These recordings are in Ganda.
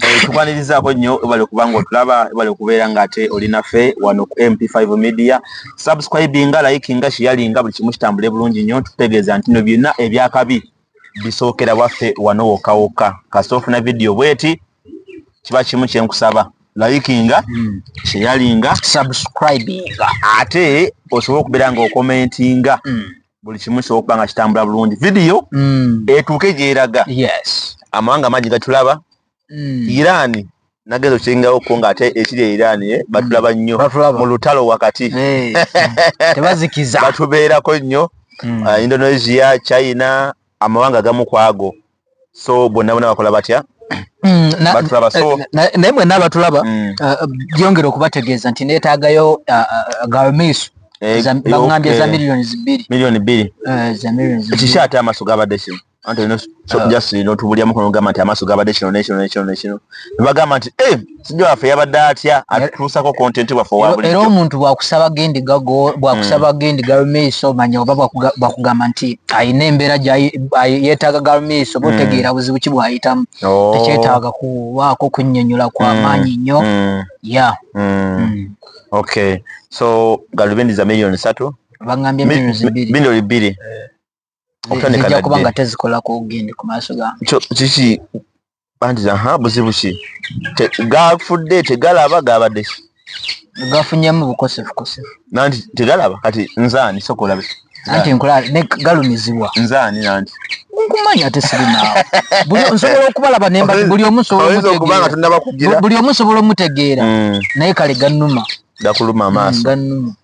Eh, tukwanirizaako nnyo ebale kubanga otulaba ebale okubeera ngaate olinafe wano ku mp5 media subscribinga likinga shiyalinga buli kimu kitambule bulungi nnyo tukutegeeza nti no byonna ebyakabi bisookera waffe wano wokka wokka kasita ofuna vidiyo bweti kiba kimu kyenkusaba likinga hmm. shiyalinga subscribinga ate osobola okubeera nga okomentinga hmm. buli kimu kisobola okuba nga kitambula bulungi vidiyo mm. etuuke gyeraga amawanga mangi gatulaba mm. iraani nagezo kiringawo ko nga ate ekiri eirani eh, batulaba mm. nnyo mu lutalo wakati tebazikiza batubeerako nnyo mm. uh, indonesia china amawanga gamu kwago so bonna bona bakola batya mm, batulaba so eh, eh, naye mwenna abatulaba mm. eh, byongera okubategeeza nti neetaagayo gamiiso baŋambye za milioni bbiri milioni bbiri ekiki ate amaaso gabadde kino anti just notubulyamu kono gamba nti amaaso gabadde kino nekino nekino nekino nebagamba nti sijja waffe yabadde atya atutuusako kontenti bwaffe owabuli era omuntu bwakusaba gendi gago bwakusaba mm. gendi galumeiso manya oba bakugamba nti ayina embeera yetaaga galumeiso mm. botegeera buzibu ki bwayitamu oh. tekyetaaga kuwaako kunyonyola kwa mm. maanyi nnyo ya ok so galubindi za millioni satu bangambye millioni biri okuba nga tezikolako ogende ku maaso gakiki antiza ha buzibu ki gafudde tegalaba gabadde gafunyemu bukosefukosefu nanti tegalaba kati nzaani sokolabe anti nkulaba ne galumizibwa nzaani nanti nkumanya ate sirinaawo nsobola okubalaba nemba buli omu nsobolaomutegeera buli omu nsobola omutegeera mm. naye kale gannuma gakuluma amaaso mm, gannuma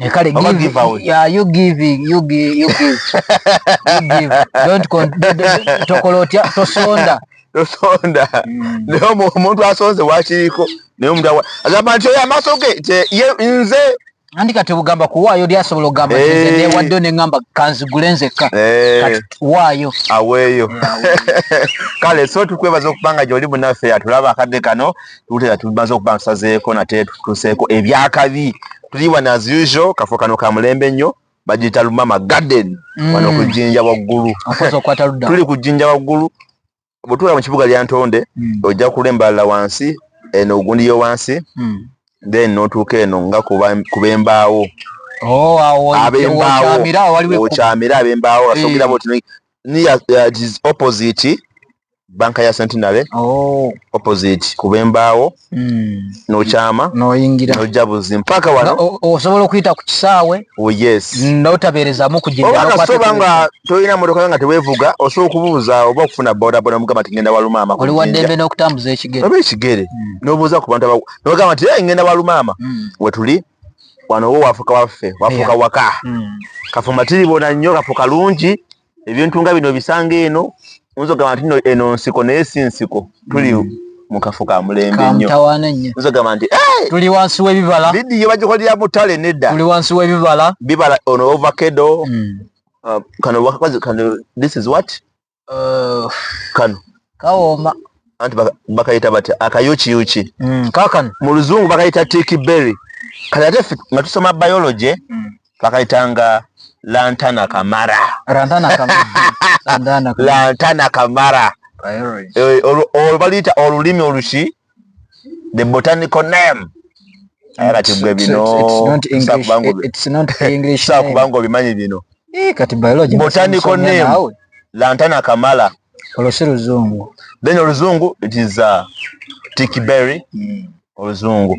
Eh, kale give, give out. Yeah, you give, you give, you give. you give. Don't con tokola otya tosonda. Tosonda. Mm. Leo omuntu asonze wakiriko naye omuntu awa agamba nti oyo amaaso ge ye nze andi kati ogamba kuwaayo oli asobola okugamba hey. Eh. newaddeyo ne ngamba kanzigule nzekka hey. Eh. kati waayo aweeyo kale so tukwebaza okubanga gyoli munaffe atulaba akadde kano tuwulira tumaze okuba ntusazeeko nate tutuseeko ebyakabi tuli wano as usual kafo kano ka mulembe nnyo bagiyita lumama garden mm. wano ku jjinja waggulu tuli ku jjinja waggulu bwetuula mu kibuga lya ntonde mm. ojja kula embalala wansi eno ogundi yo wansi mm. then notuuka eno nga kuba embaawo oh, abembaawo okyamira abembaawo asogera boti opposite banka ya centenary oh. opposite kuba embaawo mm. nokyama noyingira nojja buzi mpaka wano osobola okuyita ku kisaawe oh, yes notabeerezamu kujiasoba nga tolina motoka nga tewevuga osobola okubuuza oba okufuna bodaboda mugamba ti ngenda walumaama oli waddembe n'okutambuza ekigere oba ekigere mm. nobuuza ku bantu nogamba ti ngenda walumaama mm. wetuli wano owo wafuka waffe wafuka yeah. waka mm. kafumatiri bona nnyo kafuka lungi ebintu nga bino bisanga eno nzo gamba nti eno nsiko naye si nsiko tuli mm. mu kafo ka mulembe nnyo nzo gamba nti tuli wansi w'ebibala vidiyo bagikolera mu tale nedda tuli wansi w'ebibala bibala ono ovakedo mm. uh, kano wakazi kano this is what uh, kano kawooma anti bakayita bati akayukiyuki mm, kakano mu luzungu bakayita tiki berry kati ate nga tusoma biology bakayitanga lantana kamara lantana kamara eh, olwo baluyita olulimi oluki the botanical name aye kati gwe binosaakubanga obimanyi bino eh, botanical name lantana kamala olwo si luzungu then oluzungu it is uh, tickberry hmm. oluzungu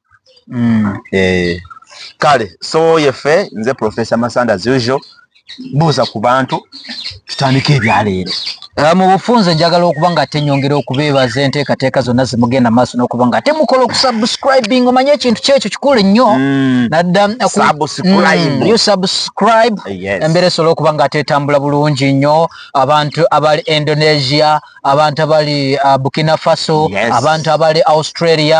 mm. eh. kale so yefe nze professor masanda as usual buuza ku bantu tutandika ebyaleero eh, mu bufunze njagala okuba nga ate nyongera okubeebaza enteekateeka zonna zimugenda maaso n'okuba nga ate mukola okusubscribing omanye ekintu kyekyo kikulu nnyo hmm. nadda hmm, you subscribe embeera esobola okuba nga ate etambula bulungi nnyo abantu abali indonesia abantu abali uh, burkina faso abantu abali australia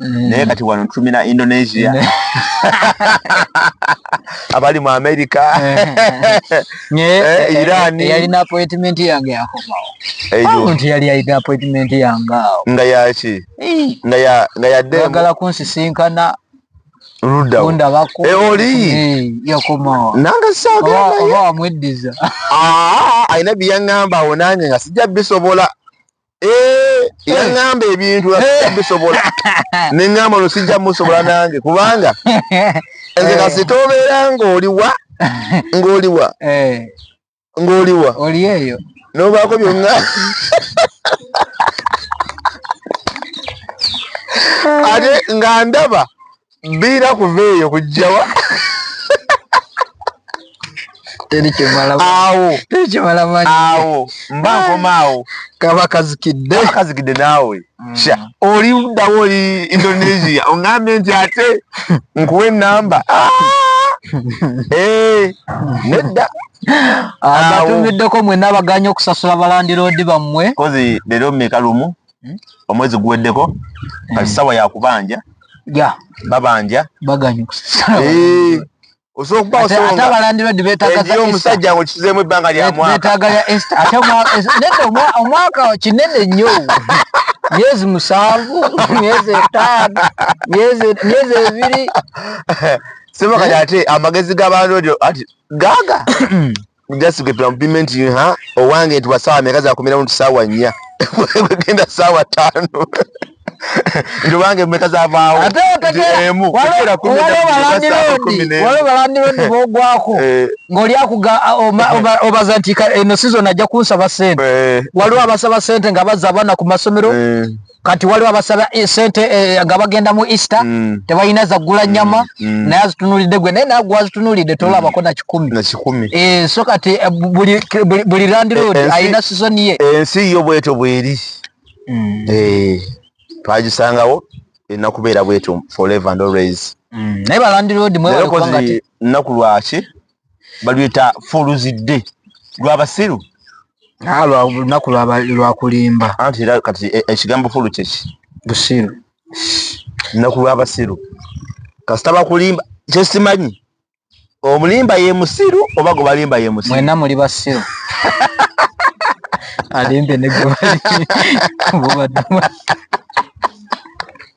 Mm. naye kati wano tumina indonesia abali mu america eh, irani yalina appointment yange yakomawo omuntu yali yalina appointment yange awo nga yaki nga ya nga ya demo agala kunsisinkana rudda onda bako e eh, oli yakomawo nanga saga oba amweddiza ah ayina biyangamba onanye nga sija bisobola Eh, yaŋŋamba ebintu bisobola ne ŋŋamba no sijja musobola nange kubanga nze kasita obeera ng'oliwa ng'oliwa eh. ng'oliwa oli eyo n'obaako byonna ate nga ndaba biira kuva eyo kujjawa awo awo mba nkoma awo kaba kazikidde kazikidde naawe mm. sha oli ddawo oli indonesia ongambye nti ate nkuwa enamba ah! eh, nedda abatumiddeko mwena abaganya okusasula balandiroodi bammwe kozi leero mmeka lumu hmm? omwezi guweddeko hmm. kati sawa yakubanja ya babanja baganyu eh osobola okubawo songa ate abalandirodi betagaza omusajja ngo kizemu ebbanga lya mwaka betaga ya esta ate omwaka nende omwaka kinene nnyo myezi musanvu myezi etaano myezi myezi ebiri sema kati ate amagezi g'abalandirodi ati gaga just get complimenting her owange nti wasaawa meka zakumiramu nti saawa nnya wegenda saawa ttaano nti owange meka zavaawo emu waliwo balandirondi bogwako eh. ng'oli akuga obaza nti eno sizoni ajja kunsaba sente eh. waliwo abasaba sente nga baza abaana ku masomero eh. kati waliwo abasaba eh, sente eh, nga bagenda mu easter mm. tebalina zagula mm. nyama mm. Mm. naye azitunulidde gwe naye nagwe azitunulidde mm. tolabako na kikumi e, so kati eh, buli, buli, buli landlord e, alina sizoni ye ensi e, yo bwetyo bweri mm. e, twagisangawo erina kubeera bwetyo forever and always mm. naye balandlord mwebalekubanga nnaku lwaki baluyita fuluzidde lwabasiru ah, lunaku lwakulimba anti era kati e, ekigambo fulu kyeki busiru lunaku lwabasiru kasita bakulimba kyesimanyi omulimba ye musiru oba gwe balimba ye musiru mwena muli basiru alimbe ne gwe bali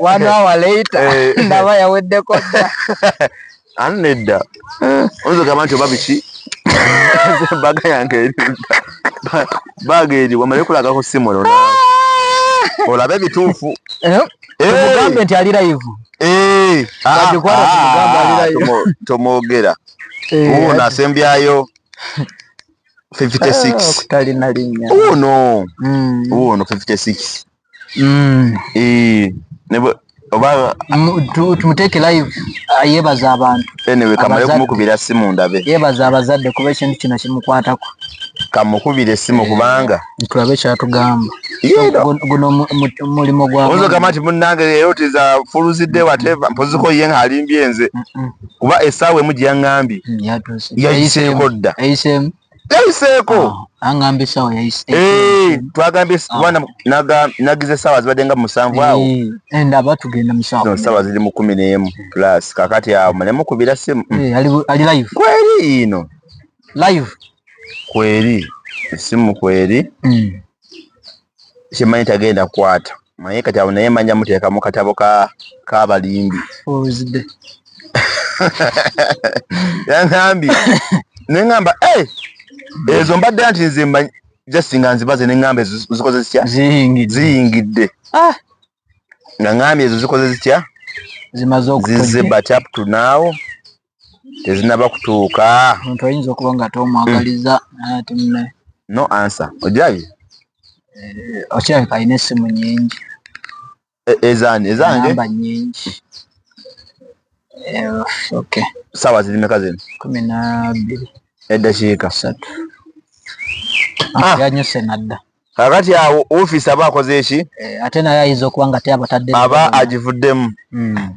wanaawa leita eh. ndaba yaweddeko dda ani nedda oyinza ogamba nti oba biki baga yange eridda baaga eri wamale kulaga ku simu olona olabe ebituufu eh? eh. mugambe nti ali layivu ah, ah, tomwogera uwo nasembyayo 56 kutalina linnya wuuno Mm. wuuno 56 Mm. Eh, ne bwe- oba Mu- tu- tumuteeke live ah, yebaza abantu anyway kamale Abazadde. kumukubira simu ndabe yebaza abazadde kuba ekintu kino kimukwatako kamukubire simu kubanga tulabe kyatugamba Yino. Gun- guno mu- mu- mulimu gwa oyinza okugamba nti munnange leero tiza fuluzidde wateva mpoziko ye ng'alimbye nze Mm. kuba esaawa emu gyeyangambye yayiseeko dda yayiseeko twagambye nagize esaawa zibadde nga musanvu awo saawa ziri mu kumi n'emu plus kakati awo mulemukubira simu kweri ino kweri esimu kweri hmm. kyemanyi tagenda kwata naye kati awo naye manya muteeka mu katabo kabalimbi ozide yanambi nengamba eh, ezo mbadde nti nze manyi just nga nzibaze nengamba ezo zikoze zitya ziyingidde ah. nga ngambye ezo zikoze zitya zimaze okuzize but up to now tezinaba kutuuka omuntu ayinza okuba nga tomwagaliza ate mune no answer ojabi eh, okirabika alina essimu nyingi e, ezani ezange namba nyingi eh, okay sawa ziri meka zino kumi na bbiri eddakiika satu ah. yanyuse nadda kakati awo ofiisi aba akoze eki eh, ate naye ayinza okuba nga teabatadde aba agivuddemu hmm.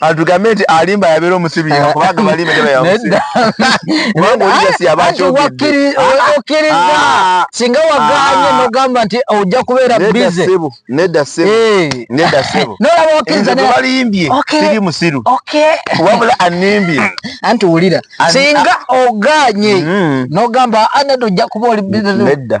atugambe nti alimba yabeera omusibi yeka kubanga balimba tebayamusibi kubanga oligasi yaba akyogeddeokkiriza ah. singa waganye ah. nogamba nti ojja kubeera bize nedda sebo eh. nedda sebo nolaba okkiriza balimbye siri musiru wabula animbye anti wulira singa oganye mm-hmm. nogamba anadda ah, ojja kuba oli bize nedda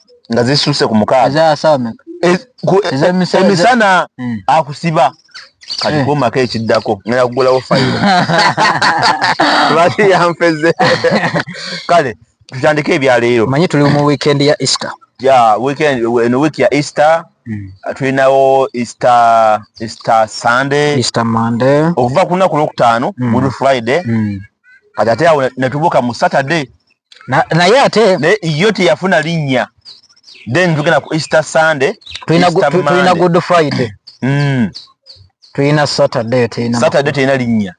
nga zisusse ku mukaaga eh, eh, emisana hmm. akusiba kati eh. kumako ekiddako ngenda kugulawo fayiro lwaki yanfeze kale tutandike ebyaleero manyi tuli mu weekend ya easter ya weekend eno week ya easter hmm. tulinawo easter easter sunday easter monday okuva ku lunaku lwokutaano hmm. good friday kati ate awo netubuuka mu saturday naye ate naye yo teyafuna linnya then tugenda ku easter sunday tulina good friday mm. tulina saturday tulina saturday tulina linnya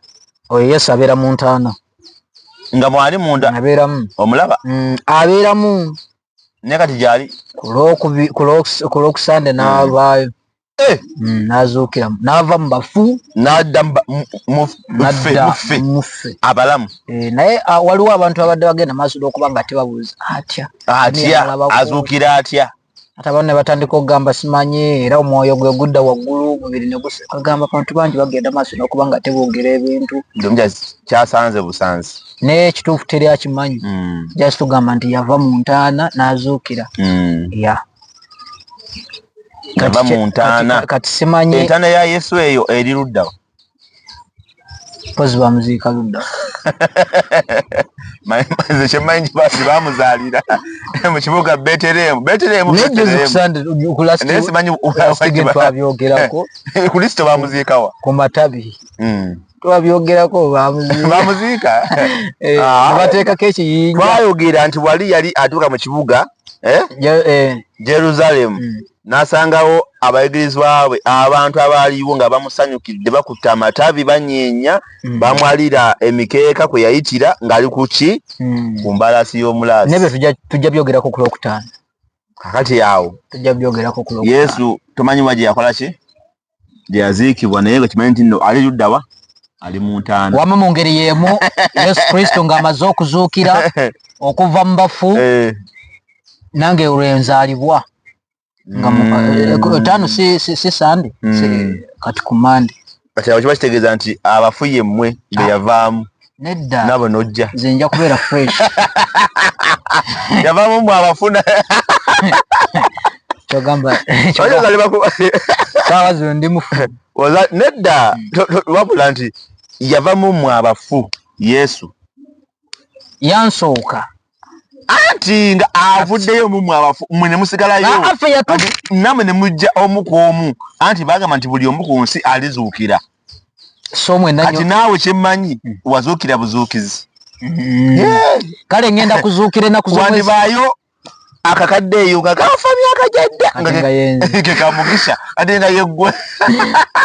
oyo yesu abeera mu ntaana nga mwali munda abeeramu omulaba mm, abeeramu naye kati gyali ku lwokusande mm. n'avaayo eh. mm, nazuukira naava mu bafu nadda muffe abalamu eh, naye ah, waliwo abantu abadde bagenda maaso lwokuba nga tebabuuza atya atya azuukira atya ate abantu ne batandika okugamba simanyi era omwoyo gwe gudda waggulu omubiri ne gusagamba abantu bangi bagenda maaso nokuba nga teboogera ebintu kyasanze busanzi naye ekituufu teri akimanyi hmm. just tugamba nti yava mu ntaana n'azuukira hmm. ya nava mu ntaana kati simanyi entaana ya yesu eyo eri luddawa pozi bamuziika ludda nze kyemanyi nti basi bamuzaalira mu kibuga beteremu beteremusimanyi kristo bamuziikawa ku matabi hmm. twabyogerako bamuziika eh, ah. bateekako ekiyinja twayogera nti wali yali atuuka mu kibuga eh? Eh. jerusalemu hmm. n'asangawo abayigirizwa bwe abantu abaaliwo nga bamusanyukidde bakutte amatabi banyeenya hmm. bamwalira emikeeka kwe yayitira ng'ali ku ki hmm. ku mbalaasi y'omulaasi nebyo tujja byogerako ku lwokutaano kakati awo tujja byogerako ku yesu tomanyi wa gye yakola ki gye yaziikibwa naye nga kimanyi nti no ali ludda wa ali mu ntaana wama mu ngeri y'emu yesu kristo ng'amaze okuzuukira okuva mu bafu eh. nange olwe nzaalibwa nga mm. eh, eh, taano si sande hmm. kati ku mande kati abo kiba kitegeeza nti abafu ye mmwe be ah. yavaamu nedda nabo nojja nze nja kubeera fresh yavaamu mwe abafuna kyogamba saawa zino ndi mufu nedda hmm. wabula nti yavamu mwe abafu yesu yansooka anti nga avuddeyo mumwe abafu mwe ne musigalayo namwe ne mujja omu ku omu anti bagamba nti buli omu ku nsi alizuukira kati naawe kyemmanyi hmm. wazuukira buzuukizi hmm. kale ngenda kuzuukira enakuzwandibaayo akakadde eyo nga kafa myaka gyadda kekamugisha ate nga yeggwe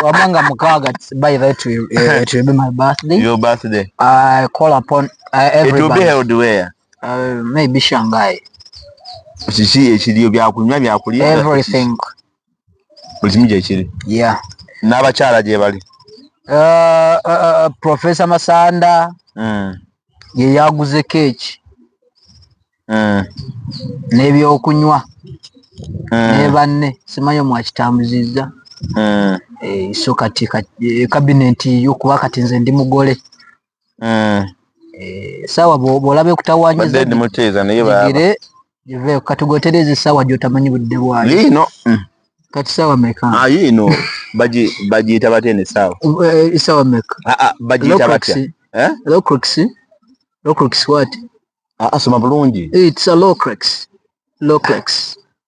wamanga mukaaga by that will, uh, it will be my birthday your birthday i call upon Uh, it will be held where? Uh, maybe Shanghai. Kiki ekiriyo byakunywa byakulya? Everything. Buli kimu gyekiri. Yeah. N'abakyala gye bali. Uh, uh, uh, Professor Masanda mm. ye yaguze keeki mm. n'ebyokunywa mm. ne banne simanyi omwakitambuzizza mm. eh, so kati kabineti eh, yokuba kati nze ndi mugole mm. eh, sawa bwolaba ekutawanyizaigire ive kati gwetereza esawa gyotamanyi budde bwayo yiino mm. kati sawa meka ah, yiino bagiyita batya eno esawa eh, esawa meka ah, ah, bagiyita batya eh? locrix locrix wat asoma bulungi its a locrix locrix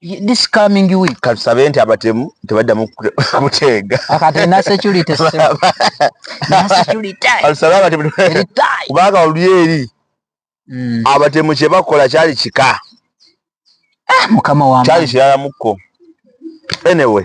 this coming week katusabe nti abatemu tebaddamu kuteega kubanga oluli eri hmm. abatemu kyebakola kyali kika ah, kyali kirala mukko anyway